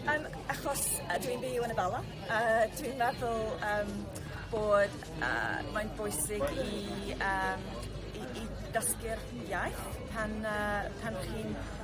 Um, achos uh, dwi'n byw yn y Bala, uh, dwi'n meddwl um, bod uh, mae'n bwysig i, um, i, i dysgu'r iaith pan, uh, pan chi'n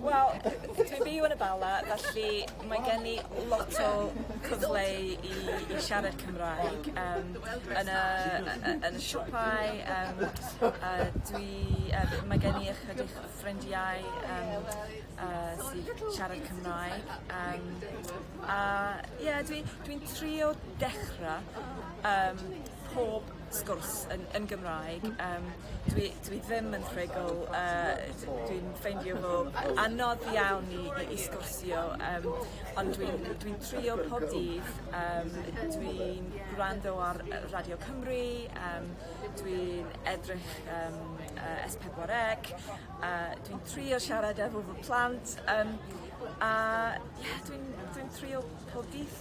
Wel, dwi byw yn y Bala, felly mae gen i lot o cyfle i, i siarad Cymraeg um, yn, y, yn y siopau. Um, a dwi, uh, mae gen i ychydig ffrindiau um, uh, sy'n siarad Cymraeg. Um, a ie, yeah, dwi'n dwi, dwi trio dechrau um, pob sgwrs yn yn Gymraeg yym dwi dwi ddim yn rhugl yy d- dwi'n ffeindio fo yy anodd iawn i i i sgwrsio yym ond dwi'n dwi'n trio pob dydd yym dwi'n gwrando ar yy Radio Cymru yym dwi'n edrych yym yy Es Pedwar Ec yy dwi'n trio siarad efo fy plant yym a ie dwi'n dwi'n trio pob dydd.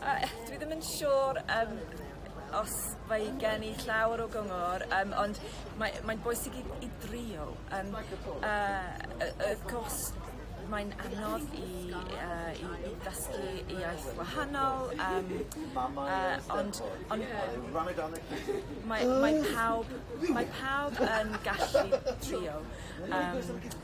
dwi ddim yn siŵr yym os mae gen i llawer o gyngor yym ond mae mae'n bwysig i i drio yym yy yy wrth gwrs mae'n anodd i yy i i ddysgu iaith wahanol yym yy ond ond mae mae pawb mae pawb yn gallu trio yym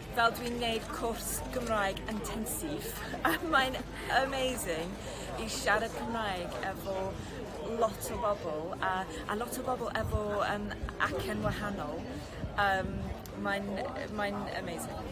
fel dwi'n neud cwrs Gymraeg intensive a mae'n amazing i siarad Cymraeg efo lot o bobl a a lot o bobl efo yym acen wahanol yym mae'n yy mae'n amazing.